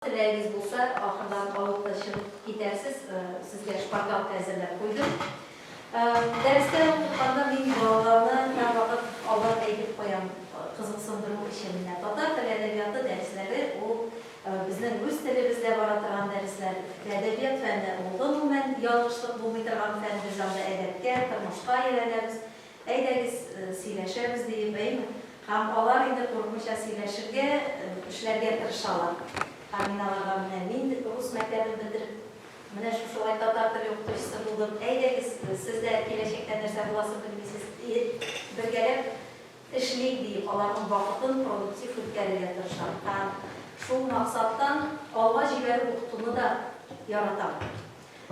Теләгегез булса, ахырдан алып та чыгып китәрсез, сезгә шпаргалка әзерләп куйдым. Дәрестә укытканда мин балаларны һәрвакыт алдан әйтеп куям, кызыксындыру өчен менә татар теле әдәбияты дәресләре ул безнең үз телебездә бара торган дәресләр. Әдәбият фәне ул гомумән ялгышлык булмый торган фән, без анда әдәпкә, тормышка өйрәнәбез. Әйдәгез, сөйләшәбез, диеп, әйме? Һәм алар инде курыкмыйча сөйләшергә, эшләргә тырышалар. Һәм мин аларга, Менә мин рус мәктәбен бетереп, менә шушылай татар теле укытучысы булдым. Әйдәгез, сез дә киләчәктә нәрсә буласын белмисез, бергәләп эшлик, диеп, аларның вакытын продуктив үткәрергә тырышам. Һәм шул максаттан алга җибәреп укытуны да яратам.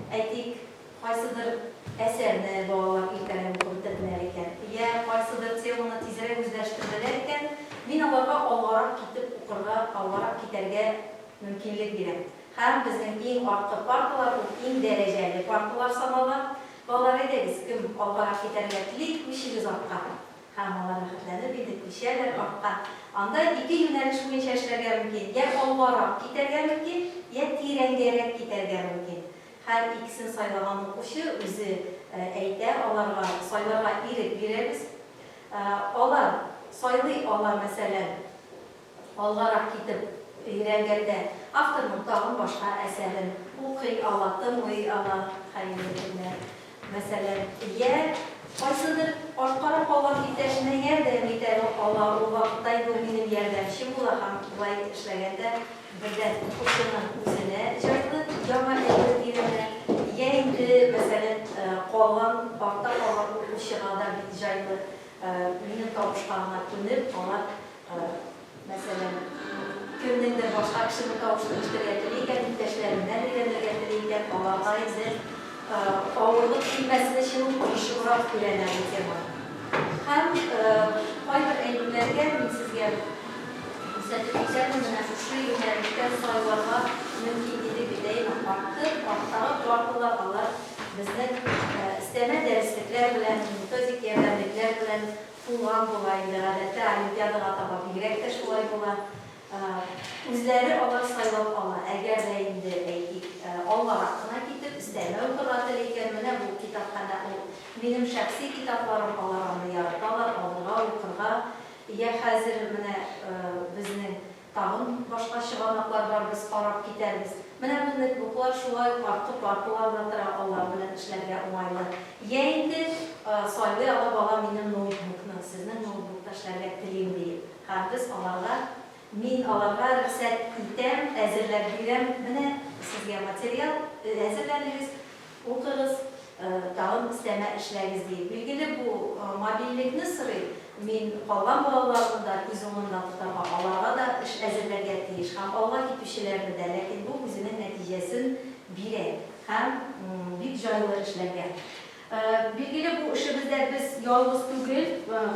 Әйтик, кайсыдыр әсәрне балалар иртәләп укып бетерделәр икән, йә кайсыдыр теманы тизрәк үзләштерделәр икән, мин аларга алгарак китеп укырга, алгарак китәргә мөмкинлек бирәм. Һәм безнең иң арткы парталар ул иң дәрәҗәле парталар санала. Балалар, әйдәгез, кем алгарак китәргә тели, күчегез артка. Һәм алар рәхәтләнеп инде күчәләр артка. Анда ике юнәлеш буенча эшләргә мөмкин, йә алгарак китәргә мөмкин, йә тирәнгәрәк китәргә мөмкин. Һәр икесен сайлаган укучы үзе әйтә, аларга сайларга ирек бирәбез. Алар сайлый ала, мәсәлән. Алгарак китеп өйрәнгәндә, авторның тагын башка әсәрен укый ала, тыңлый ала. Хәерле көннәр! Мәсәлән, йә кайсыдыр арткарак калган иптәшенә ярдәм итә ала, ул вакытта инде ул минем ярдәмчем була һәм болай эшләгәндә бердән укучының үзенә җайлы, яңа әйбер өйрәнә, йә инде, мәсәлән, калган, артта калган укучыга да бик җайлы, минем табышка гына күнеп, алар Мәсәлән, кемнеңдер башка кешене тавыштырыштырырга тели икән, иптәшләреннән өйрәнергә тели икән, аларга инде авырлык килмәсен өчен ул тырышыбрак өйрәнә бу теманы. Һәм кайбер әйберләргә мин сезгә күрсәтеп үтәмен, менә шушы юнәлештән сайларга мөмкин иде бит, әйеме? Арткы, арттагы кураклылар, алар безнең өстәмә дәреслекләр белән, методик ярдәмлекләр белән, Булган була инде, гадәттә олимпиадага таба бигрәк тә шулай була. Үзләре алар сайлап ала. Әгәр дә инде, әйтик, алгарак кына китеп, өстәмә укырга тели икән, менә бу китапханә ул. Минем шәхси китапларым, алар аны яраталар, алырга, укырга. Йә хәзер менә безнең. Тагын башка чыганаклар бар, без карап китәрбез. Менә безнеке буклар шулай ук арткы парталар да тора, алар белән эшләргә уңайлы. Йә инде, сайлый ала бала минем ноутбукны, сезнең ноутбукта эшләргә телим диеп. Һәм без аларга, мин аларга рөхсәт итәм, әзерләп бирәм, менә сезгә материал, әзерләдегез, Укыгыз, тагын өстәмә эшләгез, ди. Билгеле, бу мобильлекне сорый. Мин калган балаларны да күз уңында тотарга, аларга да эш әзерләргә тиеш һәм алга китүчеләрне дә, ләкин бу үзенең нәтиҗәсен бирә һәм бик җайлы эшләргә. Билгеле, бу эшебездә без ялгыз түгел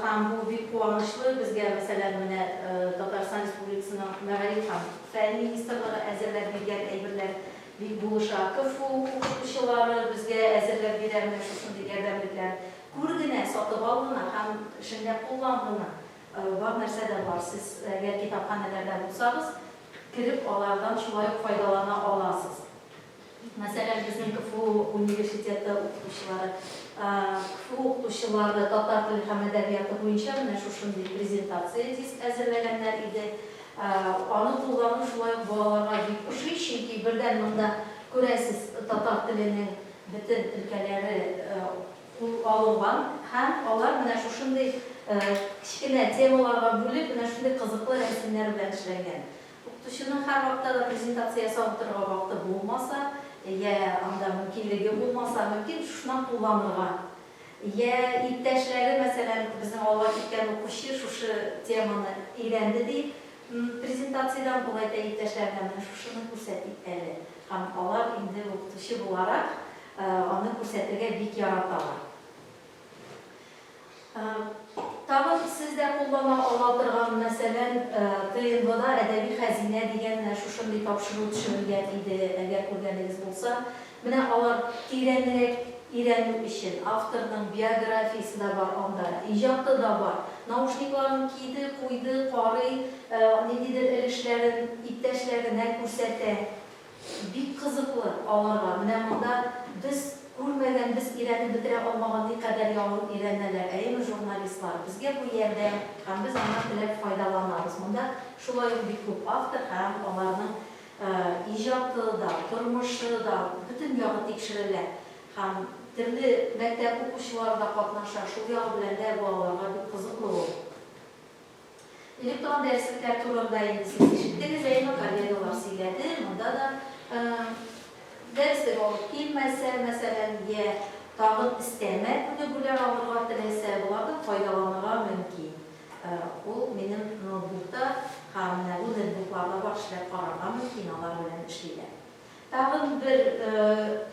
һәм бу бик куанычлы. Безгә, мәсәлән, менә Татарстан Республикасының Мәгариф һәм фән министрлыгы әзерләп биргән әйберләр Бик булыша. КФУ укытучылары безгә әзерләп бирә менә шушындый ярдәмлекләр. Күр генә, сатып ал гына һәм эшеңдә куллан гына. Бар нәрсә дә бар. Сез әгәр китапханәләрдә булсагыз, кереп алардан шулай ук файдалана аласыз. Мәсәлән, безнең КФУ университеты укытучылары, КФУ укытучылары татар теле һәм әдәбияты буенча менә шушындый презентация диск әзерләгәннәр иде. Аны куллану шулай ук балаларга бик ошый, чөнки бердән монда, күрәсез, татар теленең бөтен өлкәләре кул алынган һәм алар менә шушындый кечкенә темаларга бүлеп, менә шундый кызыклы рәсемнәр белән эшләнгән. Укытучының һәрвакытта да презентация ясап утырырга вакыты булмаса, йә анда мөмкинлеге булмаса, мөмкин, шушыннан кулланырга Йә, иптәшләре, мәсәлән, безнең алга киткән укучы шушы теманы өйрәнде, ди, м, презентациядән ул әйтә иптәшләренә, менә шушыны күрсәтик әле, һәм алар инде укытучы буларак аны күрсәтергә бик яраталар. Тагын сез дә куллана ала торган, мәсәлән, ТНВда Әдәби хәзинә дигән менә шушындый тапшыру төшерелгән иде, әгәр күргәнегез булса, Менә алар тирәнрәк өйрәнү өчен. Авторның биографиясе дә бар анда, иҗаты да бар. Наушникларын киде, куйды, карый, ниндидер өлешләрен иптәшләренә күрсәтә. Бик кызыклы аларга. Менә монда без күрмәгән, без өйрәнеп бетерә алмаган никадәр яңа өйрәнәләр. Әйеме, журналистлар? Безгә бу ярдәм һәм без аннан теләп файдаланабыз. Монда шулай ук бик күп автор һәм аларның иҗаты да, тормышы да бөтен ягы тикшерелә һәм төрле мәктәп укучылары да катнаша, шул ягы белән дә бу аларга бик кызыклы ул. Электрон дәреслекләр турында инде сез ишеттегез, әйеме, коллегалар сөйләде, монда да дәреслек алып килмәсә, мәсәлән, йә тагын өстәмә күнегүләр алырга теләсә, болардан файдаланырга мөмкин. Ул минем ноутбукта һәм менә бу нетбукларда бар эшләр карарга мөмкин, алар белән эшлиләр. Тагын бер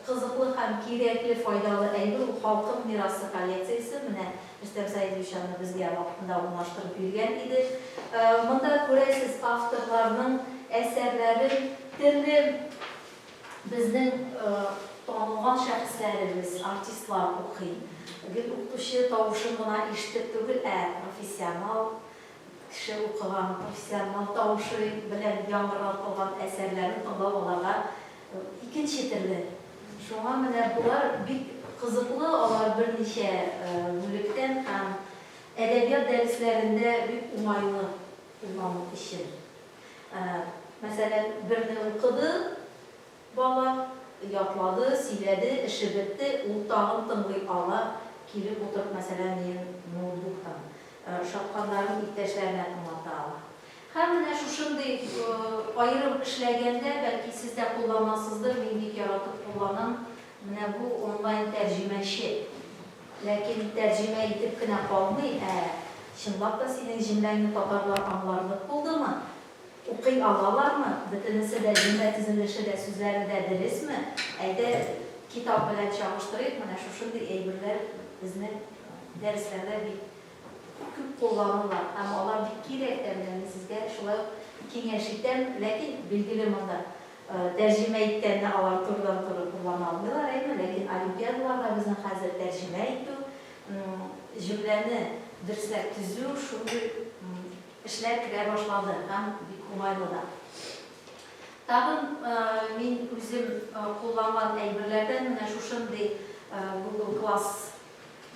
кызыклы һәм кирәкле, файдалы әйбер, ул Халкым мирасы коллекциясе. Менә Рөстәм Сәидович аны безгә вакытында урнаштырып биргән иде. Монда күрәсез, авторларның әсәрләрен, төрле Безнең танылган шәхесләребез, артистлар укый. Гел укытучы тавышын гына ишетеп түгел, ә профессионал кеше укыган, профессионал тавышы белән яңгыратылган әсәрләрен тыңлау аларга икенче төрле. Шуңа менә болар бик кызыклы, алар берничә бүлектән һәм әдәбият дәресләрендә бик уңайлы куллану өчен. Мәсәлән, берне укыды бала, ятлады, сөйләде, эше бетте, ул тагын тыңлый ала, килеп утырып, мәсәлән, минем ноутбуктан ошатканнарын иптәшләренә аңлата ала. Һәм менә шушындый аерым эшләгәндә, бәлки, сез дә кулланасыздыр, мин бик яратып кулланам. Менә бу онлайн тәрҗемәче. Ләкин тәрҗемә итеп кенә калмый, ә чынлап та синең җөмләңне татарлар аңларлык булдымы? Укый алалармы? Бөтенесе дә, җөмлә төзелеше дә, сүзләре дә дөресме? Әйдә, китап белән чагыштырыйк, менә шушындый әйберләр безнең дәресләрдә бик күп кулланыла һәм алар бик кирәк тә. Менә мин сезгә шулай ук киңәш итәм. Ләкин, билгеле, монда Тәрҗемә иткәндә алар турыдан-туры куллана алмыйлар, әйеме? Ләкин олимпиадаларда безнең хәзер тәрҗемә итү, җөмләне дөресләп төзү, шундый эшләр керә башлады һәм бик уңайлы да. Тагын мин үзем кулланган әйберләрдән менә шушындый Google Class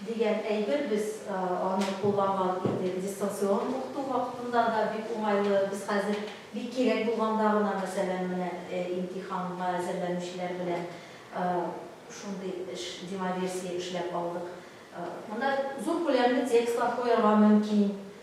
Дигән әйбер, без аны кулланган идек дистанцион укыту вакытында да, бик уңайлы. Без хәзер бик кирәк булганда гына, мәсәлән, менә имтиханга әзерләнүчеләр белән шундый эш, демоверсия эшләп алдык. Монда зур күләмле текстлар куярга мөмкин,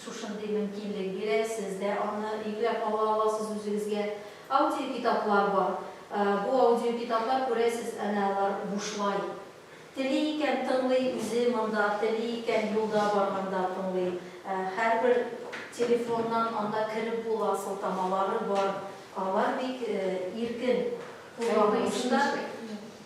Шушындый мөмкинлек бирә, сез дә аны йөкләп ала аласыз үзегезгә. Аудиокитаплар бар. Бу аудиокитаплар, күрәсез, әнә алар бушлай. Тели икән, тыңлый үзе монда, тели икән, юлда барганда тыңлый. Һәрбер телефоннан анда кереп була, сылтамалары бар. Алар бик иркен куллану өчен дә.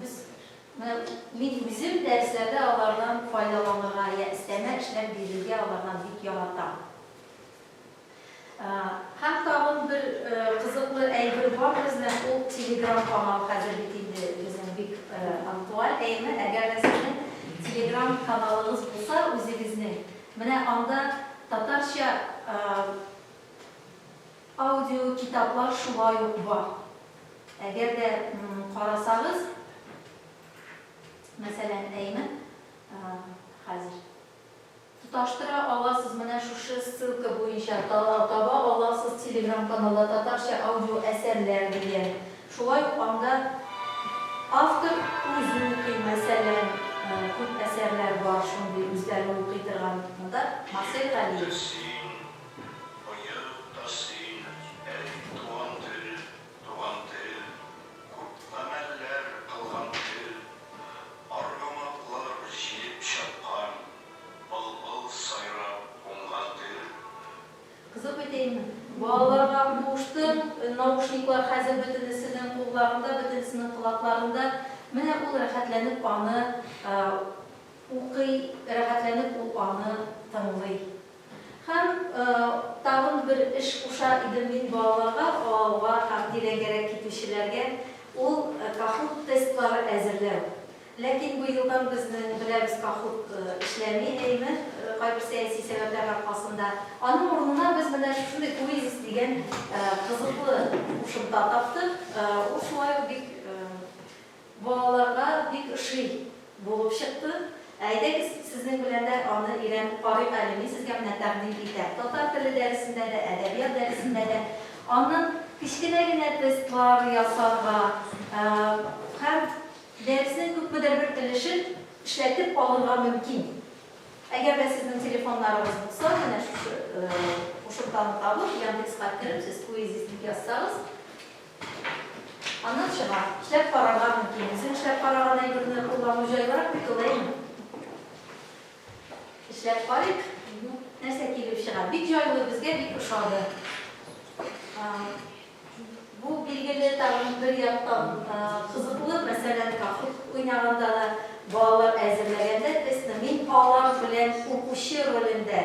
Без, менә мин үзем дәресләрдә алардан файдаланырга я өстәмә эшләр бирергә алардан бик яратам. Һәм тагын бер кызыклы әйбер бар безнең, ул телеграм канал хәзер бит инде безнең бик актуаль әйме. Әгәр дә сезнең телеграм каналыгыз булса үзегезнең, менә анда татарча аудиокитаплар шулай ук бар. Әгәр дә карасагыз, мәсәлән, әйме, хәзер тоташтыра аласыз, менә шушы ссылка буенча таба аласыз телеграм-каналда татарча аудио әсәрләр дигән. Шулай ук анда автор үзе укый, мәсәлән, күп әсәрләр бар шундый үзләре укый торган. Монда Марсель Галиев. Быел да син, әти, туган тел, туган тел, Күп гамәлләр кылган тел. Аргамаклар җилеп чапкан, Былбыл сайрап уңган тел. Кызык бит, әйеме? Балаларга куштым, наушниклар хәзер бөтенесенең кулларында, бөтенесенең колакларында. Менә ул рәхәтләнеп аны укый, рәхәтләнеп ул аны тыңлый. Һәм тагын бер эш куша идем мин балаларга, аларга тәкъдирәгәрәк китүчеләргә, ул Kahoot тестлары әзерләү. Ләкин бу елдан безнең, беләбез, Kahoot эшләми, әйеме, кайбер сәяси сәбәпләр аркасында. Аның урынына без менә шушындый Quizzes дигән кызыклы кушымта таптык. Ул шулай ук бик Балаларга бик ошый булып чыкты. Әйдәгез, сезнең белән дә аны өйрәнеп карыйк әле, мин сезгә менә тәкъдим итәм. Татар теле дәресендә дә, әдәбият дәресендә дә аннан кечкенә генә тестлар ясарга һәм дәреснең күпмедер бер өлешен эшләтеп алырга мөмкин. Әгәр дә сезнең телефоннарыгыз булса, менә шушы кушымтаны табып, Яндекска кереп, сез квизис дип язсагыз, Аннан чыга. Эшләп карарга мөмкин. Үзең эшләп караган әйберне куллану җайлырак бит ул, әйеме? Эшләп карыйк. Нәрсә килеп чыга? Бик җайлы, безгә бик ошады. Бу билгеле тагын бер яктан кызыклы, мәсәлән, кахут уйнаганда да, балалар әзерләгәндә тестны мин алар белән укучы ролендә,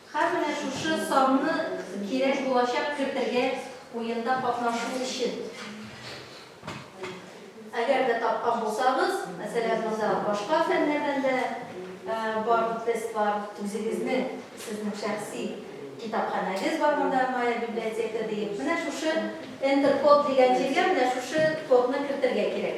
Һәм менә шушы санны кирәк булачак кертергә уенда катнашу өчен. Әгәр дә тапкан булсагыз, мәсәлән, монда башка фәннәрдән дә бар тестлар, үзегезнең, сезнең шәхси китапханәгез бар монда, моя библиотека диеп. Менә шушы Enter код дигән җиргә менә шушы кодны кертергә кирәк.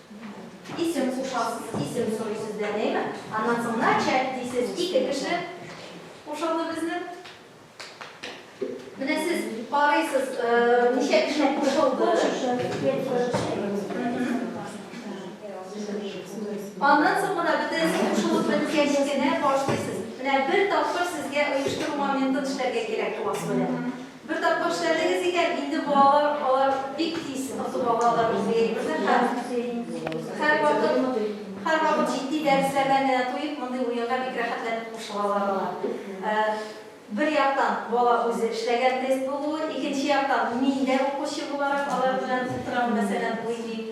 Исем кушасыз, исем сорый сездән, әйме? Аннан соң начать дисез, ике кеше кушылды безнең. Менә сез карыйсыз, ничә кеше кушылды. Аннан соң гына бөтен кушылып беткәч кенә башлыйсыз. Менә бер тапкыр сезгә оештыру моментын эшләргә кирәк буласы белән. Бер тапкыр эшләдегез икән, инде балалар алар бик тиз отып алалар үзлеекне һәм һәрвакыт, һәрвакыт җитди дәресләрдән генә туеп, мондый уенга бик рәхәтләнеп кушылалар алар. Бер яктан, бала үзе эшләгән тест булуы, икенче яктан, мин дә укучы буларак алар белән утырам, мәсәлән, уйныйм.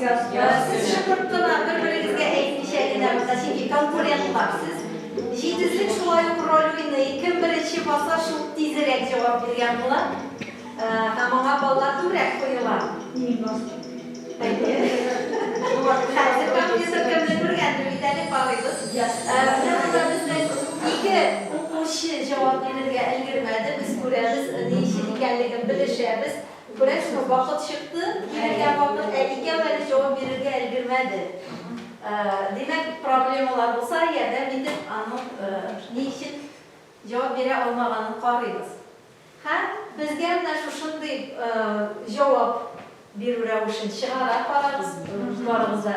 Сез шыпырт кына, бер-берегезгә әйтмичә генә монда, чөнки конкурентлар сез. Җитезлек шулай ук роль уйный, кем беренче баса, шул тизрәк җавап биргән була. Һәм аңа баллар күбрәк куела. Мин бастым. Әйе. Хәзер компьютер кемне күргәндер бит әле, карыйбыз. Менә монда безнең ике укучы җавап бирергә өлгермәде, без күрәбез, ни өчен икәнлеген белешәбез. Күрәсеңме, вакыт чыкты, килергә вакыт, ә икәү әле җавап бирергә өлгермәде. Димәк, проблемалар булса, ярдәм итеп, аның ни өчен җавап бирә алмаганын карыйбыз. Һәм безгә менә шушындый җавап бирү рәвешен чыгара карагыз, барыгыз да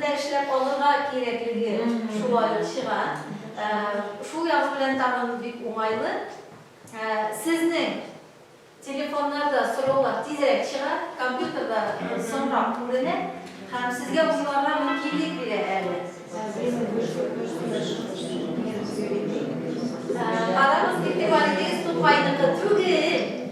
да эшләп алырга кирәклеге шулай чыга. Шул ягы белән тагын бик уңайлы. Сезнең телефоннарда сораулар тизрәк чыга, компьютерда соңрак күренә һәм сезгә уйларга мөмкинлек бирә әле. Карагыз, игътибар итегез, Тукайныкы түгел.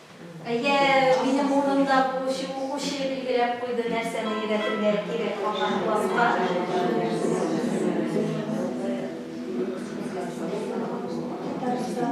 Әйе, минем урынымда булучы укучы билгеләп куйды, нәрсәне өйрәтергә кирәк калган класска. Татарстан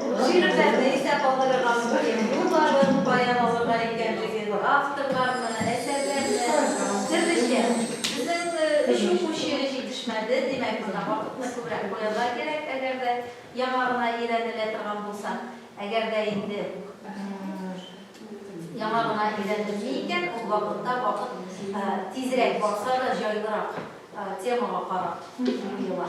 Бу шигырьләрне истә калдырырга мөһим юлларын каян алырга икәнлеген, авторларны, әсәрләрне, төрлечә. Безнең өч укучы җитешмәде, димәк, монда вакытны күбрәк куярга кирәк, әгәр дә яңа гына өйрәнелә торган булса. Әгәр дә инде яңа гына өйрәнелми икән, ул вакытта вакыт тизрәк барса да, җайлырак темага карап куела.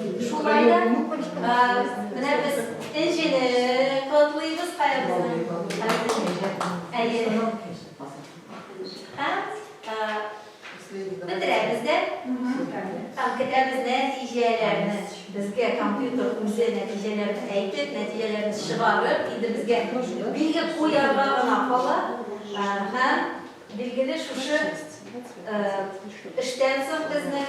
Шулай да менә без Энҗене котлыйбыз кая безнең. Әйе. Һәм бетерәбез дә. Там көтәбез нәтиҗәләрне. Безгә компьютер үзе нәтиҗәләрне әйтеп, нәтиҗәләрне чыгарып, инде безгә билге куярга гына кала. Һәм билгеле шушы эштән соң безнең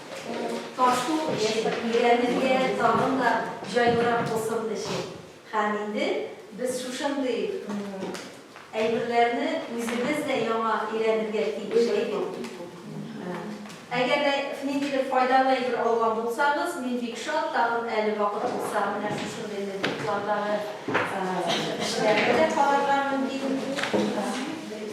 Ул тарту өчен, өйрәнергә тагын да җайлырак булсын өчен. Һәм инде без шушындый әйберләрне үзебез дә яңа өйрәнергә тиеш, әйе? Әгәр дә ниндидер файдалы әйбер алган булсагыз, мин бик шат, тагын әле вакыт булса, менә шушындый ноутбуклардагы эшләрне дә карарга мөмкин.